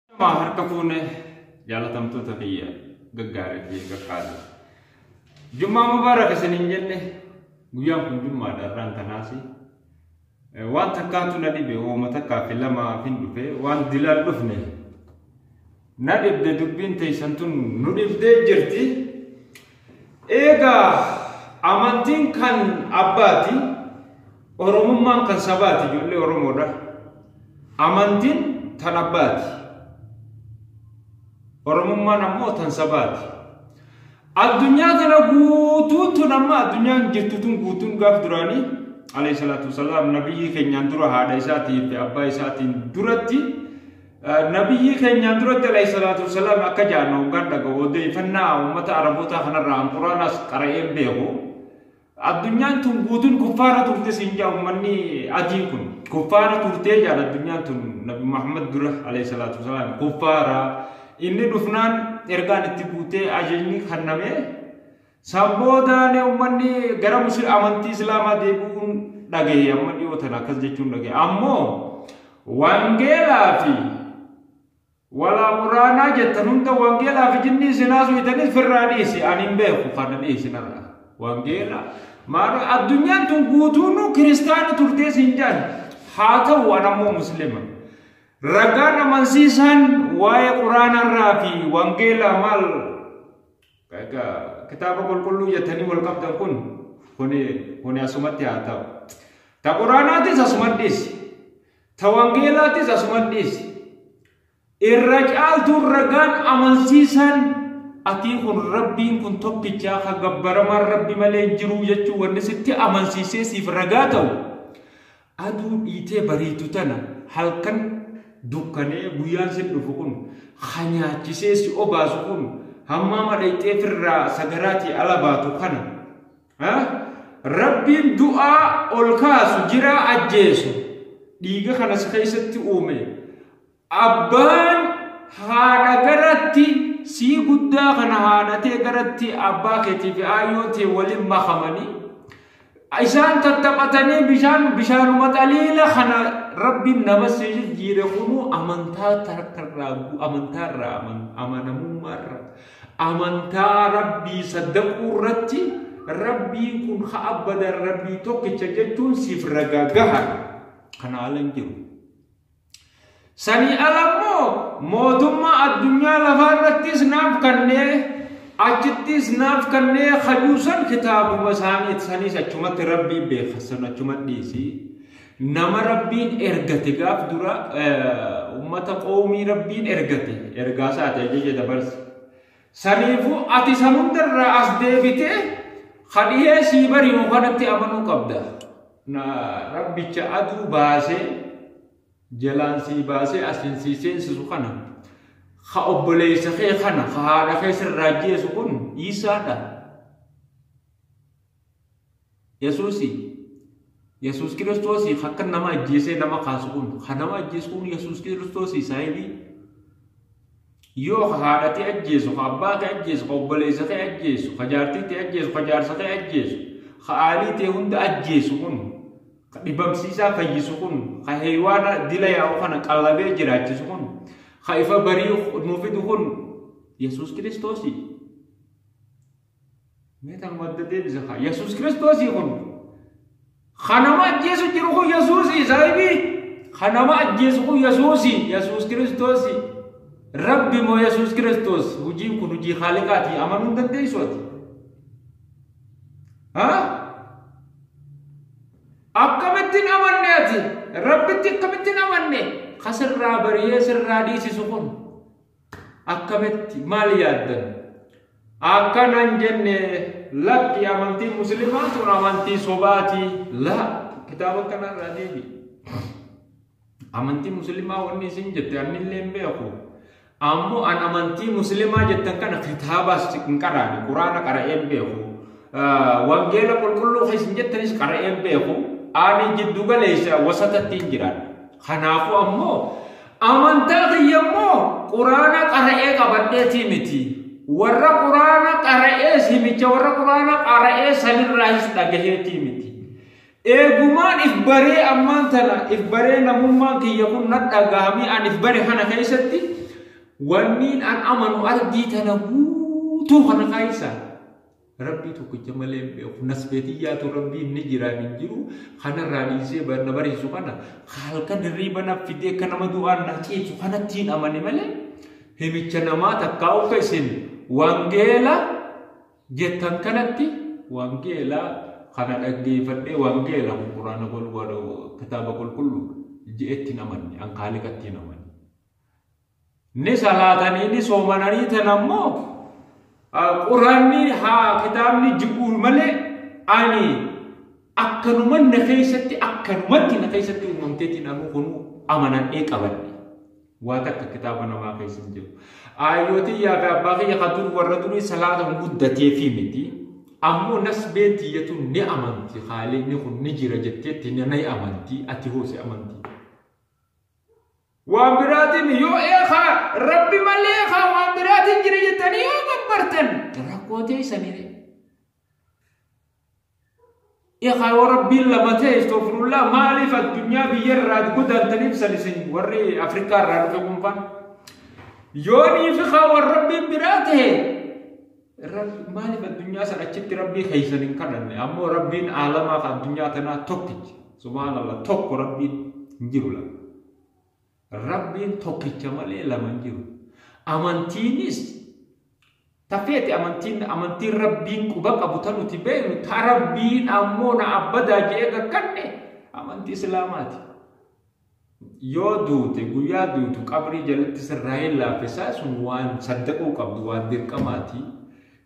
Nama harka fuune jaalatamtoota biyya gaggaarii fi gaggaarii. Jummaa mubaarak isin hin jenne guyyaan kun jummaadha irraan kanaas waan takkaatu na dhibe uuma takkaa fi lamaa fi dhufe waan dilaan dhufne na dhibde dubbiin teessan tun nu dhibdee jirti. Eegaa amantiin kan abbaati, Oromummaan kan sabaati ijoollee Oromoodha. Amantiin tan abbaati. Oromummaan ammoo tan sabaati. Addunyaa kana guutuun tun amma addunyaan jirtu tun guutuun gaaf duraanii alayhi salaatu wasalaam nabiyyii keenyaan dura haadha isaatii fi abbaa isaatiin duratti Nabiyyii keenyaan duratti alayhi salaatu wasalaam akka jaanna hoggaan dhaga'u odeeffannaa uummata Arabootaa kanarraa an Quraanas qara'een beeku. Addunyaan tun guutuun kuffaara turte siin jaa uummanni adiin kun. Kuffaara turtee jaan addunyaan tun Nabi Muhammad dura alayhi salaatu wasalaam kuffaara. Inni dhufnaan ergaan itti buutee ajajni kannamee San boodaan ummanni gara musi amantii islaamaa deebi'uun dhagahe amma dhiyoo tana akkas jechuun dhagahe. Ammoo wangeelaa fi walaa quraanaa jettan hunda wangeelaa fi jinnii isin haasuytanis firraa dhiisi ani hin beeku kana dhiisi narra. Wangeela maal addunyaan tun guutuun kiristaana turtee siin jaan haa ta'u an ammoo muslima. Ragaan amansiisaan waa'ee quraanarraa fi wangeelaa maal Egaa kitaaba qulqulluu jettanii wal qabdan kun kuni kuni asumatti haa ta'u. Ta quraanaatis asumatti dhiisi. Ta wangeelaatis asumatti dhiisi. Irra caaltuun ragaan amansiisaan atii kun rabbiin kun tokkichaa ka gabbaramaan rabbi malee hin jiruu jechuu wanni sitti amansiisee siif ragaa ta'u. Aduu dhiitee bariitu tana halkan dukkanee guyyaan sin dhufu kun ha nyaachisee si obaasu kun hammaama dhayxee firraa sagaraatii ala baatu kana ha rabbiin du'aa ol kaasu jiraa ajjeesu dhiiga kana si keessatti uume Abbaan haadha garatti sii guddaa kana haadha tee garatti abbaa keetii fi aayyoo tee waliin makamanii isaan tattaphatanii bishaan bishaanuma xaliila kana rabbiin nama si jijjiire kunuu amantaa tarkarraa amantaarraa amanamummaarraa amantaa rabbii saddaquu irratti rabbiin kun ha abbadan rabbii tokkicha jechuun siif ragaa gaha kana alan jiru. Sanii ala immoo mootummaa addunyaa lafaa irrattis naaf kannee achittis naaf kannee hajuusan kitaabuma isaaniit saniis achumatti rabbii beeka san achuma dhiisi. Nama rabbiin ergate gaaf dura uummata qoomii rabbiin ergate ergaa isaati ajaja dabarse. Saniifuu ati san hundarraa as deebitee kadhihee sii bari'u kanatti amanuu qabda. Na Rabbicha aduu baasee jalaan sii baasee asiin sii seensisu kana ka obboleessa kee kana ka haadha kee sirraa ajjeesu kun Iisaadha. Yesuusi Yesuus Kiristoosii ka akka nama ajjeesee nama kaasu kun ka nama ajjeesu kun Yesuus Kiristoosii saayibii. Yoo ka haadha tee ajjeesu, ka abbaa kee ajjeesu, ka obboleessa kee ajjeesu, ka jaartii tee ajjeesu, ka jaarsa kee ajjeesu, ka aalii tee hunda ajjeesu kun, ka dhibamsiisaa fayyisu kun, ka heeywaana dila yaa'u kana qallabee jiraachisu kun, ka ifa barii nuu fidu kun Yesuus Kiristoosi. Meetan wadda deebisa kaa Yesuus Kiristoosii kun kan nama ajjeesu jiru kun Yesuusii saahibii kan nama ajjeesu kun Yesuusii Yesuus Kiristoosii Rabbi moo Yesuus Kiristoos hojiin kun hojii haaliqaati amanuu hin dandeessu ati. Akkamitti hin amanne ati Rabbitti akkamitti hin amanne ka sirraa bariyee sirraa dhiisisu kun. Akkamitti maal yaaddan? Akkana hin jenne lakki amantiin muslimaa sun amantii sobaati. La kitaaba kanarraa deebi. Amantii muslimaa wanni isin jette annillee hin beeku. Ammoo an amantii muslimaa jettan kana kitaabaas hin qaraane quraana qara'ee hin beeku. Wangeela qulqulluu keessan jettanis qara'ee hin beeku. Ani jiddu galeessa wasatatti hin jiraadha. Kanaafuu ammoo Amantaa kiyya immoo quraana qara'ee qabadheetii miti. Warra quraana qara'ee himicha warra quraana qara'ee sanirraayis dhagaheetii miti. Eegumaan if baree ammaan tana if baree namummaan kiyya kun na dhagahamee an if bare kana keessatti wanniin an amanu ardii tana guutuu kana keessa Rabbii tokkicha malee hin beeku. Nasbee tiyyaatu rabbiin ni jiraan hin jiru. Kanarraa dhiisee ba- na barsiisu kana halkan hirriiba na fidee akka nama du'aan na ciibsu kanatti hin amane malee himicha namaa takkaa of isin wangeela jettan kanatti wangeela kana dhaggeeffadhee wangeela kun quraana qulqulluu kitaaba qulqulluu je'etti hin amanne an kaaliqatti hin amanne. ni salaatanii ni soomananii tan ammoo quraanni haa kitaabni ji'uun malee ani akkanuman na keessatti akkanumatti na keessatti uumamteetiin anuu kun amanadhee qabadhe waa takka kitaaba namaa keessa hin jiru aayyooti yaa fi abbaa kiyya kan dur warra durii salaata hin guddatee fi miti ammoo nasbee tiyyatu ni amanti haalinni kun ni jira jetteetti ni amanti ati hoose amanti Waan biraatiin yoo eekaa rabbi malee eekaa waan biraatiin jira jettanii yoo gabbartan rakkoo teessanii eekaa yoo rabbiin lama ta'e istoofirullah maaliif addunyaa biyya irraa godaantaniif salisin warri Afrikaa irraa dhufe kumpaan yoo niifi kaa waan rabbiin biraa ta'e Rab- Maaliif addunyaa san achitti rabbii keessan hin kadhanne? Ammoo rabbiin aalamaa kan addunyaa tanaa tokkicha. Subhaanallah tokko rabbiin hin jiru lama. Rabbiin tokkicha malee lama hin jiru. Amantiinis tafeeti amantiin amantiin rabbiin quba qabu ta nuti beeknu ta rabbiin ammoo na abbadaa jedhee kakkanne amantii islaamaati. Yoo duute guyyaa duutu qabrii jalatti sirraa hin laaffessaa sun waan saddaquu qabdu waan dirqamaati.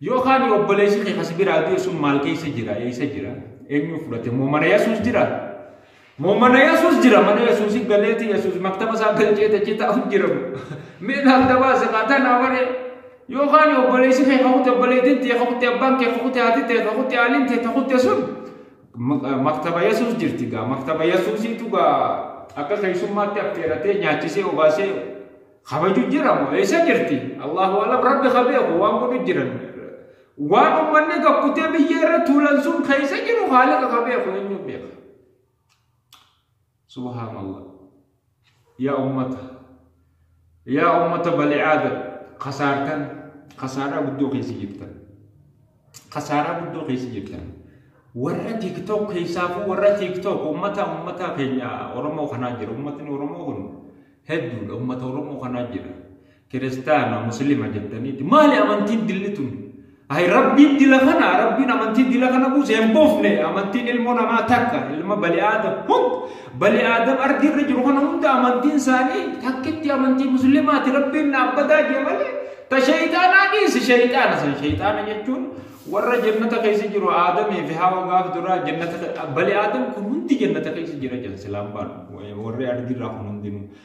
Yoo kaani obboleessi kee kasi biraa du'e sun maal keessa jira eessa jira eenyu fudhate moo mana Yesuus jira? Moo mana Yesuus jira mana Yesuusi galeeti Yesuus maktaba isaa galchee tachi taa'u jira mee naaf dabaasa kaataa naa waree yoo kaani obboleessi kee kakute obboleettiin tee kakute abbaan kee kakute haati tee kakute haaliin tee kakute sun Maktaba Yesuus jirti gaa. Maktaba Yesuusiitu gaa akka keessummaatti affeeratee nyaachisee obaasee kabaju jira moo eessa jirti? Allahu alam rabbi ka beeku waan godhu jiran. Waan uummanni gakkutee biyya irra tuulan sun keessa jiru haala ka beeku eenyu beeka? Subhaan Allah. Yaa ummata. Yaa ummata bani aadam. Kasaartan. Kasaaraa guddoo keessa jirtan. Kasaaraa guddoo keessa jirtan. Warra TikTok keessaafuu warra TikTok ummata ummata keenya Oromoo kanaa jira. Ummatni Oromoo kun hedduudha. Ummata Oromoo kanaa jira. Kiristaana, Muslima jettaniiti. Maali amantiin dilli tun? Ayi rabbiin dila kana, rabbiin amantii dila kana buuse hin buufne. Amantiin ilmoo namaa takka, ilma bali aadam hund, bali aadam ardii irra jiru kana hunda amantiin isaanii takkitti amantii muslimaati rabbiin dhaabbataa jee malee. Ta shayxaanaa dhiisi shayxaana san shayxaana jechuun warra jannata keessa jiru aadamii fi hawa gaaf duraa jannata bali aadam kun hundi jannata keessa jira jedha silaan baalu warri ardii irraa kun hundinuu.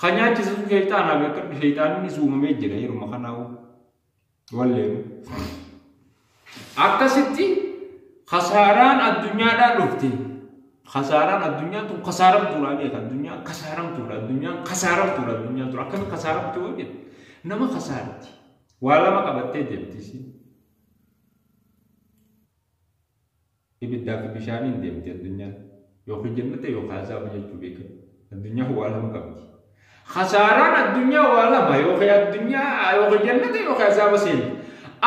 Kan nyaachise sun sheexaanaa beekadhu sheexaannis uumamee jira yeruma kanaa'u. Walleenu. Akkasitti kasaaraan addunyaadhaa dhufte. Kasaaraan addunyaa tun kasaaramtuudha beeka addunyaa kasaaramtuudha addunyaan kasaaramtuudha addunyaa tun akkami kasaaramtu yoo jedhu nama kasaarti. Waa lama qabattee deemti isiin. Ibiddaa fi bishaaniin deemti addunyaan. Yookiin jannata yookiin azaaba jechuu beeka. Addunyaan waa lama qabdi. Khasaaraan addunyaa waa lama yookiin addunyaa yookiin jannata yookiin azaaba seenti.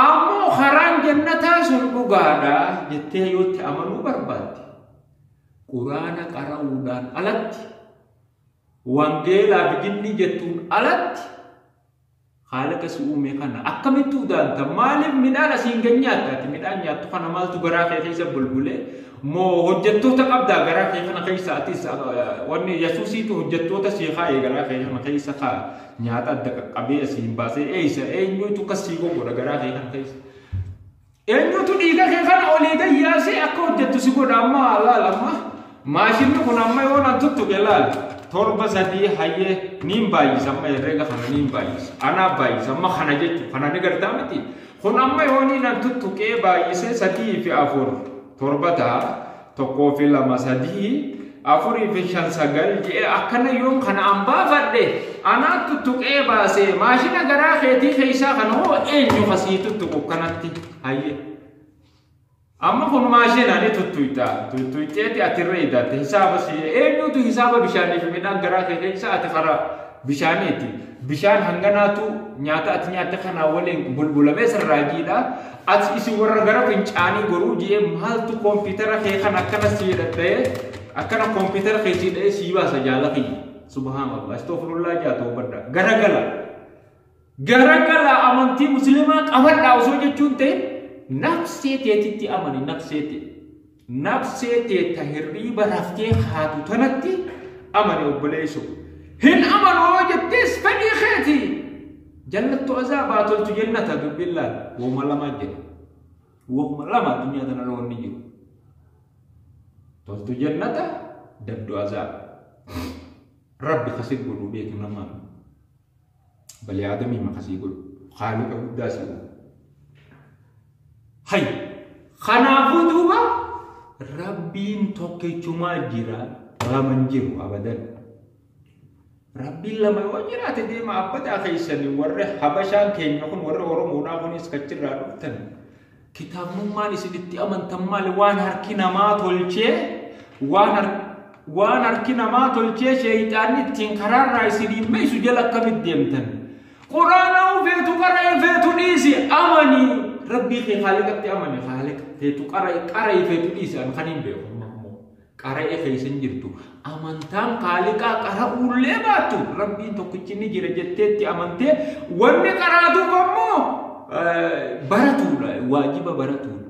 Ammoo karaan jannataa sun dhugaadha jettee yoo itti amanuu barbaadde quraana qara'uudhaan alatti wangeelaa fi dinnii jettuun alatti Haalaqa si uume kana akkamitti udaanta? Maaliif midhaan asiin gad nyaatta? Ati midhaan nyaattu kana maaltu garaa kee keessa bulbule? Moo hojjettoota qabdaa garaa kee kana keessa atis wanni Yesuusiitu hojjettoota sii kaa'e garaa kee kana keessa kaa nyaata adda qaqqabee asiin baasee eessa eenyuutu kas sii goggodha garaa kee kana keessa? Eenyutu dhiiga kee kana olii gad yaasee akka hojjettu si godha amma laal amma maashinni kun amma yoo nan tuttuqe laal torba sadii hayyee niin baay'isa amma herreega kana niin baay'isa anaa baay'isa amma kana jechuun kana ni gartaa miti kun amma yoo niin nan tuttuqee baay'isee sadii fi afur torba ta'a tokkoo fi lama sadii afurii fi shan sagal je'e akkana yoom kana an baafadhe anaattu tuqee baasee maashina garaa keetii keessaa kana hoo eenyu kasii tuttuqu kanatti hayyee. amma kun maashina ni tuttuyta tuttuyteeti ati irra hidhatte hisaaba si eenyutu hisaaba bishaanii fi midhaan garaa kee keessa ati karaa bishaaniiti. Bishaan hanganaatu nyaata ati nyaatte kanaa waliin bulbulamee sirraa jiidha. Ati isin warra gara fincaanii goruu ji'ee maaltu koompitara kee kan akkana sii dhadha'ee akkana koompitara kee sii dha'ee sii baasa jaala kiyya. Subhaanallah astoofirullaa jaa toobadha. Garagala. Garagala amantii musliimaa qabadhaa osoo jechuun ta'e nafsee teetitti amani nafsee ta'e. Nabsee tee ta hirriiba raftee kaatu tanatti amani obboleeyso. Hin amanu yoo jettees fedhii keeti. Jallattu azaabaa toltu jennata dubbiin laal. Wahuma lama jedha. Wahuma lama addunyaa tana irra wanni jiru. Toltu jennata dabdu azaaba. Rabbi kasi godhu beeku namaan. Bani Aadamii maka sii godhu. Khaaliqa guddaa sii uume. Hay! Kanaafuu duuba Rabbiin tokkichumaa jira lama hin jiru abadan. Rabbiin lama yoo jiraate deema abbataa keessanii warri Habashaan keenya kun warri Oromoodhaa kunis kachirraa dhuftan Kitaabnummaan isin itti amantan maali? Waan harki namaa tolchee waan harki namaa tolchee sheeyxaanni ittiin karaarraa isiniin meessu jala akkamitti deemtan? Quraanaa feetu qara'e feetu dhiisi amanii rabbii kee haaliqatti amani haaliqa feetu qara'e qara'e feetu dhiisi an kan hin beeku. qara'e keessa hin jirtu. Amantaan kaaliqaa qara'uullee baattu rabbiin tokkichi ni jira jetteetti amantee wanni qaraatuuf ammoo baratuudha waajiba baratuudha.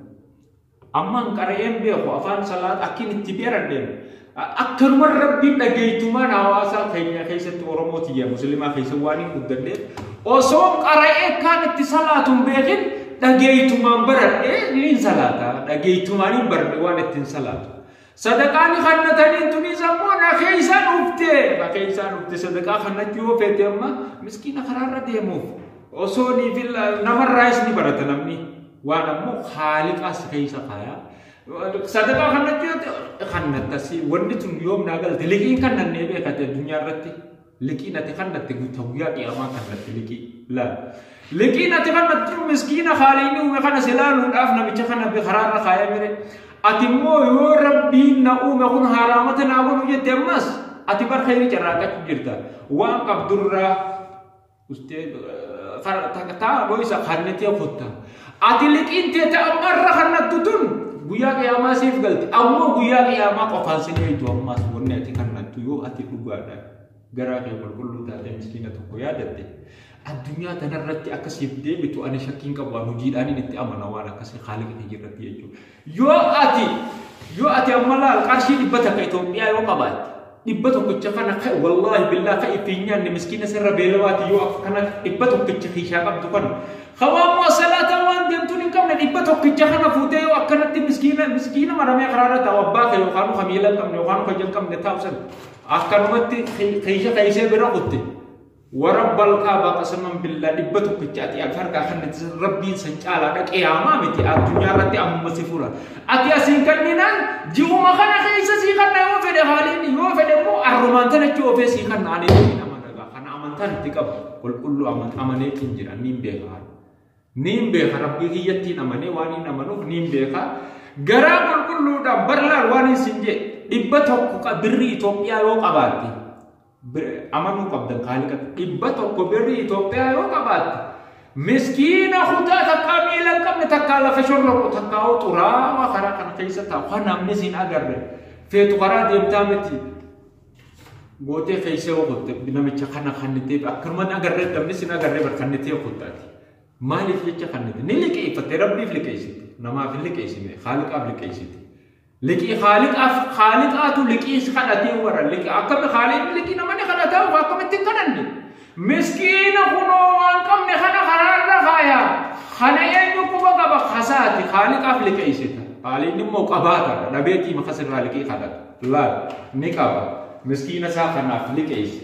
Ammaan qara'een beeku afaan salaat akkin itti beeradheem akkanuma rabbiin dhageeytumaan hawaasaa keenya keessatti Oromoo tiyya musliimaa keessa waan hin guddanneef osoo qara'ee kaan itti salaatuun beekin dhageeytumaan baradhe niin salaata dhageeytumaan hin baradhe waan ittiin salaatu sadaqaa ni kannatanii tunis ammoo na keeysaa dhufte na keeysaa dhufte sadaqaa kannachuu yoo feete amma miskiina karaarra deemuuf osoo ni filla namarraayis ni barata namni waan ammoo haaliqaas keeysa kaayaa sadaqaa kannachuu yoo kannattasi wanni tun yoom naa galte liqiin kannannee beekate addunyaa irratti Liqiin ati kannatte guuta guyyaa qiyaamaa kannatti liqii. Laal. Liqiin ati kannatti miskiina haaliin uume kana si laaluudhaaf namicha kana karaarra kaaya mire. Ati immoo yoo rabbiin na uume kun haaraamata naa godhu jette ammas ati bar khayri carraaqachuu jirta. Waan qabdurraa Ustee taa dhoysa kannatee kotta. Ati liqiin teete amma irra kannattu tun guyyaa qiyaamaa siif galti. Ammoo guyyaa qiyaamaa qofaan si dheeytu ammaas wanni ati kannattu yoo ati dhugaadha. Garaa kee qulqulluu taatee miskiina tokko yaadatte. Addunyaa tanarratti akka siif deebitu ani shakkiin qabu waan hojiidhaan itti amana waan akkasii haala kee irratti jechuudha. Yoo ati yoo ati amma laal qarshii dhibba takka Itoophiyaa yoo qabaatte dhibba tokkicha kana ka- wallaahi billaa ka ittiin nyaanne miskiina sirra beelawaati yoo akka kana dhibba tokkicha kiishaa qabdu kana hawaan moo salaataa waan deemtuun hin qabne dhibba tokkicha kana fuutee yoo akkanatti miskiina miskiina maramee karaarra taa'u abbaa kee yookaan ka miila hin qabne yookaan ka ija hin qabne taa'u sana akkanumatti kiisha keessee bira kutte Warabbalkaa baqasaman billaa dhibba tokkitti ati ati harkaa kannatti san rabbiin san caalaa dhaqee haamaa miti addunyaa irratti ammuma si fura. Ati asiin kanninaan ji'uma kana keessa sii kanna yoo fedhe haaliin yoo fedhe immoo arrumaan tana itti ofee sii kanna ani ittiin amanagaa kana amantaan itti qabu qulqulluu amanee ittiin jira niin beeka haala. Niin beeka rabbii kiyyattiin amanee waan hin amanuuf niin beeka garaa qulqulluudhaan barlaan waan hin sin jee dhibba tokko birrii Itoophiyaa yoo qabaatte bira amanuu qabdan kaaliqatti dhibba tokko birri Itoophiyaa yoo qabaatte miskiina kutaa takkaa miila hin qabne takkaa lafa shorroqu takkaa hoo xuraawaa karaa kana keessa taa'u kan namni siin agarre feetu karaa deemtaa miti gootee keessa yoo kutte namicha kana kannitee akkanuma agarre namni siin agarre bar kannitee kuttaati maaliif jecha kannite ni liqeeffatte rabbiif liqeessite namaaf hin liqeessine kaaliqaaf liqeessite Liqii haaliqaaf haaliqaatu liqiis kadhatee warra liqii akkami haaliin liqii namani kadhataa waa akkamitti hin kadhanne miskiina kunoo waan qabne kana karaarra kaaya kana eenyu quba qaba kasaati haaliqaaf liqeessita haaliin immoo qabaata dhabeetii makasirraa liqii kadhata laal ni qaba miskiina isaa kanaaf liqeessi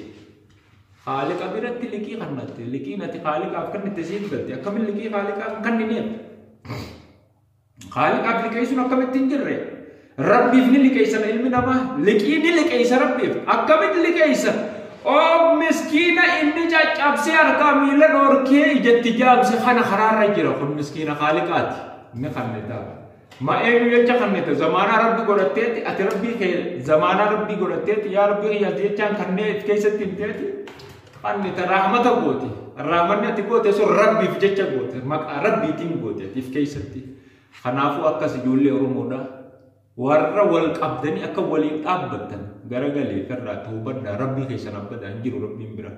haaliqa biratti liqii kannatte liqiin ati haaliqaaf kannitte siif galte akkamiin liqii haaliqaaf kannineef Khaaliqaaf liqeessuun akkamitti hin jirre? Rabbiif ni liqeessan ilmi namaa. Liqii ni liqeessa Rabbiif. Akkamitti liqeessa? Oo miskiina inni caccabsee harkaa miila dhoorkee ijatti jaamse kana karaarra jira kun miskiina khaaliqaati. Ni kannita. Ma eenyu jecha kannita zamaanaa rabbi godhatteetti ati rabbii kee zamaanaa rabbii godhatteetti yaa rabbii kiyyaas jechaan kannee keessatti hin teeti. Anni ta rahmata goote. Rahmanni ati goote sun rabbiif jecha goote. Maqaa rabbiitiin goote atiif keessatti. Kanaafuu akkas ijoollee Oromoodha. Warra wal qabdanii akka waliin dhaabbattan garagalee irraa toobadhaa rabbii keessan abbadaa hin jiru rabbiin biraa.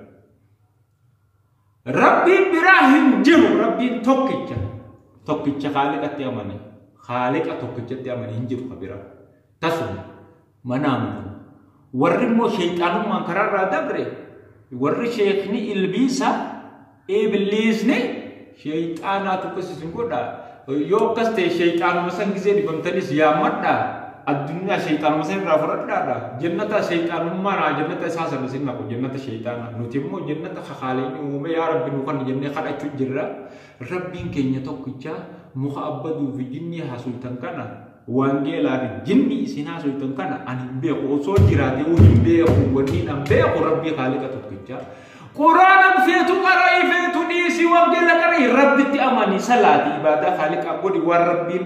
Rabbiin biraa hin jiru rabbiin tokkicha. Tokkicha haaliqatti amane. Haaliqa tokkichatti amane hin jiru ka biraa. Tasuma mana amanu. Warri immoo sheexaanummaan karaarraa dabre warri sheekni ilbiisa ibliisni sheexaanaatu akkas isin godha. Yoo akkas ta'e sheexaanuma san gisee dhibamtanis yaammadha. Addunyaa sheexaanuma san irraa fudhadhaadha. Jannata sheexaanummaa naa jannata isaa sana isin naqu jannata sheexaana. Nuti immoo jannata kakaaleen uume yaa rabbi nu kan jennee kadhachuu jirra. Rabbiin keenya tokkicha muka abbaduu fi jinnii hasultan kana Wangeelaa fi jinni isin haasoftan kana ani hin beeku osoo jiraate hin beeku wanni nan beeku rabbii haaliqa tokkicha. Quraanaan feetu qara'ii feetu dhiisi wangeela qara'ii rabbitti amanii salaati ibaadaa haaliqaa godhi waan rabbiin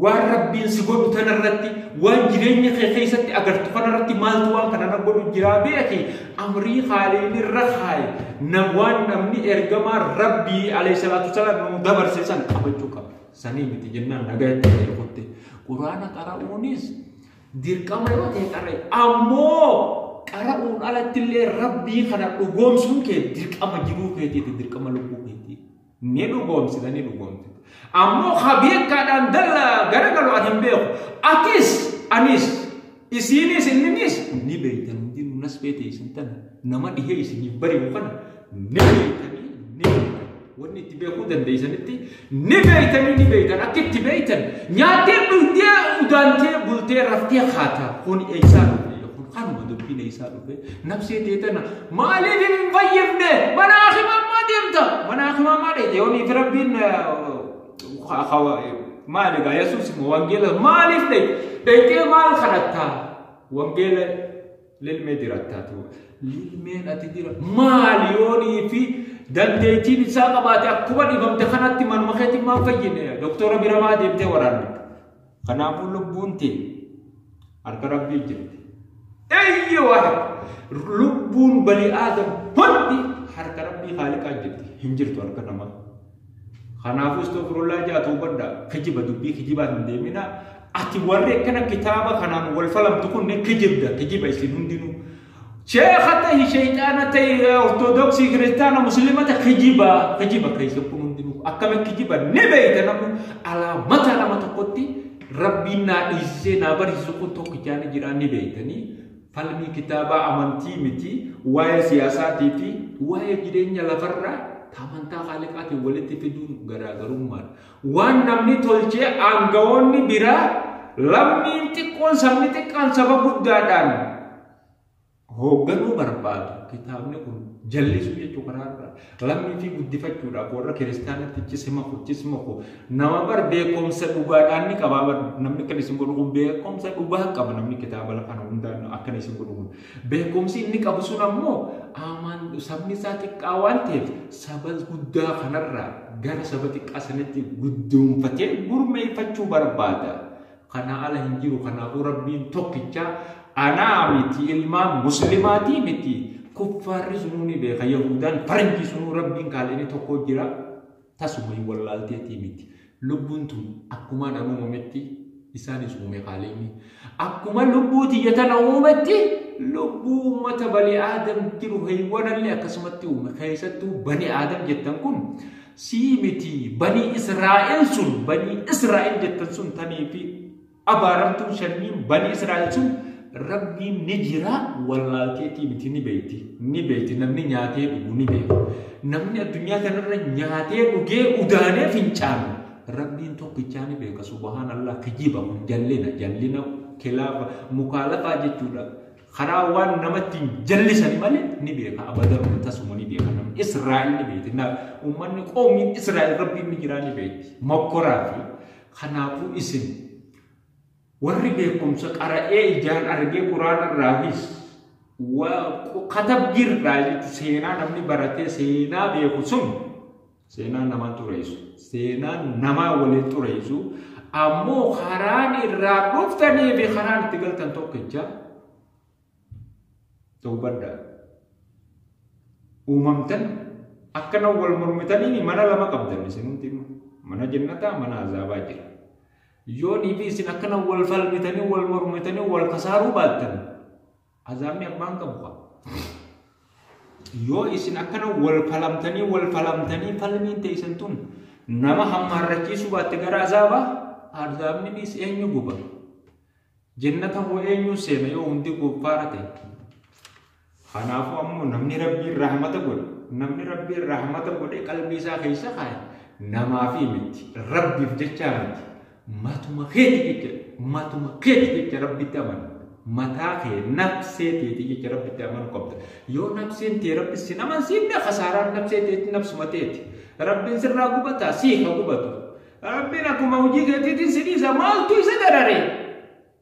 waan rabbiin si godhu tanarratti waan jireenya kee keessatti agartu kanarratti maaltu waan kana na godhu jiraa beeki amrii haaliin irra kaaye na waan namni ergamaa rabbii alayhi salaatu salaam nu dabarse san qabachuu qaba. Sanii miti jennaan nagaa itti ta'e kutte. Quraana qara'uunis dirqama yoo ta'e qara'e. Ammoo qara'uun alatti illee rabbii kana dhugoomsuun kee dirqama jiruu keetiiti dirqama lubbuu keetii. Ni dhugoomsita ni dhugoomsita. Ammoo habeekkaadhaan dalla garagalu ani hin beeku. Atis anis Isiinis inninis ni beeytan hundinuu nasbee teeysan tana nama dhihee isiniif bari'u kana ni beeytanii ni beeytan wanni itti beekuu dandeeysanitti ni beeytanii ni beeytan akka itti beeytan nyaattee dhugdee udaantee bultee raftee haata kun eeysaa dhufe kun kanuma dubbiin eeysaa dhufe nabsee tee tana maaliif hin fayyifne manaa himamaa deemta manaa himamaa dheeyte yooniif rabbiin Maal egaa Yesuus immoo wangeela maaliif dhaqxee maal kadhattaa? Wangeela lilmee jiraattaa ture. Lilmeen ati jira maali yoonii fi dandeettiin isaa qabaate akkuma dhibamte kanatti manuma keetiin maan fayyine doktora bira maa deemtee waraanne. Kanaafuu lubbuun tee harka rabbii jirti. Eyye waan lubbuun bani aadam hundi harka rabbii haaliqaa jirti. Hin jirtu harka namaa. Kanaafuu istoofirullah jaa tuubadha. Kijiba dubbii kijibaa hin deeminaa. Ati warri akkana kitaaba kanaan wal falamtu kun kijibda. Kijiba isin hundinuu. Sheekha tahi shayxaana tahi ortodoksii kiristaana musliimata kijiba kijiba keessa kun hundinuu akkami kijiba ni beeyta namu alaamata nama tokkotti rabbiin naa dhiisisee naa barsiisu kun tokkichaani jiraa ni beeytanii falmii kitaabaa amantii miti waa'ee siyaasaatii fi waa'ee jireenya lafarraa amantaa haaliqaatiin walitti fiduun garaagarummaadha. Waan namni tolchee aangawoonni biraa lammiin xiqqoon sabni xiqqaan saba guddaadhaan hoogganuu barbaadu. Kitaabni kun jallisuu jechuu karaa irraa lammii fi guddifachuudhaaf warra kiristaanatti chisima ko chisima ko nama bar beekumsa dhugaadhaan ni qabaa namni kan isin godhu kun beekumsa dhugaa qaba namni kitaaba kana hundaan akkana isin godhu kun Beekumsi inni qabu sun ammoo aamaan sabni isaa xiqqaa waan ta'eef saba guddaa kanarraa gara saba xiqqaa sanitti guddoonfatee gurmeeffachuu barbaada. Kanaa ala hin jiru kanaafuu rabbiin tokkicha anaa miti ilmaan muslimaatii miti kuffaarri sunuu ni beeka yahuudaan faranjii sunuu rabbiin kaal inni tokko jira. Tasuma hin wallaalteetii miti. Lubbuun tun akkumaan an uumametti isaanis uume Khaaliqni. Akkuma lubbuu tiyya tana uumetti lubbuu ummata bani aadam jiru heywanallee akkasumatti uume. Keessattuu bani aadam jettan kun sii miti bani Israa'el sun bani Israa'el jettan sun tanii fi Abaaramtuun shanniin banii Israa'el sun Rabbiin ni jira wallaalteetii miti ni beekti. Ni beekti namni nyaatee dhugu ni beekti. Namni addunyaa kanarra nyaatee dhugee udaanee fincaanu Rabbiin tokkichaa ni beeka subhaan Allah kijiba kun jallina jallina kilaafa mukaalafaa jechuudha. Karaa waan namatti hin jallisan malee ni beeka abadan kun tasuma ni beeka namni Israa'el ni beekti. Uummanni qoomiin Israa'el Rabbiin ni jiraa ni beekti. Mokkoraa fi Kanaafuu isin warri beekumsa qara'ee ijaan argee quraana irraafis katabbii irraa jechuun seenaa namni baratee seenaa beeku sun seenaa namaa xureessu seenaa namaa waliin xureessu ammoo karaan irraa dhuftanii fi karaan itti galtan tokkicha Hubadha. Uumamtan akkana wal mormitanii mana lama qabdan isin hundi mana jennataa mana azaabaa jira. Yoo dhiibii isin akkana wal falmitanii wal mormitanii wal kasaaruu baattan azaabni abbaan qabu qaba. Yoo isin akkana wal falamtanii wal falamtanii falmiin teessan tun nama hammaarrachiisuu baatte gara azaabaa azaabninis eenyu guba. Jennata hoo eenyuun seena yoo hundi kuffaara ta'e? Kanaafuu ammoo namni Rabbiin rahmata godhe, namni Rabbiin rahmata godhe qalbii isaa keessa kaaye namaafii miti, Rabbiif jechaa miti. Matuma keeti jecha, matuma keeti jecha Rabbitti amanu. Mataa kee nafsee teeti jecha Rabbitti amanu qabda. Yoo nafseen tee Rabbi sin amansiifne kasaaraan nafsee teeti nafsuma teeti. Rabbiin sirraa gubataa sii ha gubatu. Rabbiin akkuma hojii keetiitiin si dhiisa maaltu isa darare?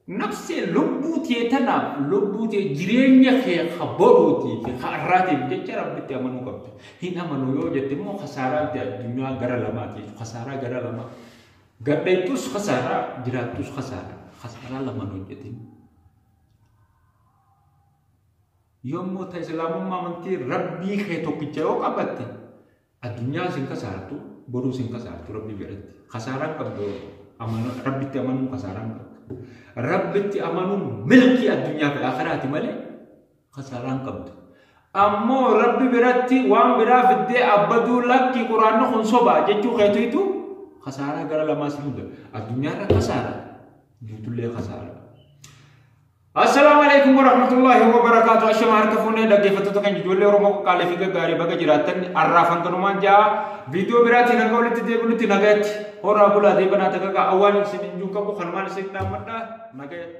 Nafsee lubbuu tee tanaaf lubbuu tee jireenya kee ka boruutii fi ka har'aatiif jecha rabbitti amanuu qabda. Hin amanu yoo jette immoo kasaaraa itti addunyaa gara lamaatiif kasaaraa gara lama. Gadheettus kasaaraa jiraattus kasaaraa kasaaraa lamaan hojjetin. Yommuu ta islaamummaa amantii rabbii kee tokkicha yoo qabatte Addunyaa isin kasaartu boruu isin kasaartu rabbii biratti kasaaraan qabdu rabbitti amanuun kasaaraan qabdu rabbitti amanuun milkii addunyaa fi akiraati malee kasaaraan qabdu ammoo rabbi biratti waan biraa fiddee abbaduu lakkii quraanni kun sobaa jechuu keetiitu kasaaraa gara lamaa isin hunda addunyaarra kasaara jirtullee kasaara Assalaamu alaikum warahmatullahi wabarakaatu ashama harka fuunee dhaggeeffattoota keenya ijoollee Oromoo qoqqaalee fi gaggaarii baga jiraattan arraaf hanganumaan ja'a viidiyoo biraatiin hanga walitti deebinutti nagayatti horaa bulaa deebanaa takaka awwaan isin hin qabu kanumaan isin dhaammadha nagayatti.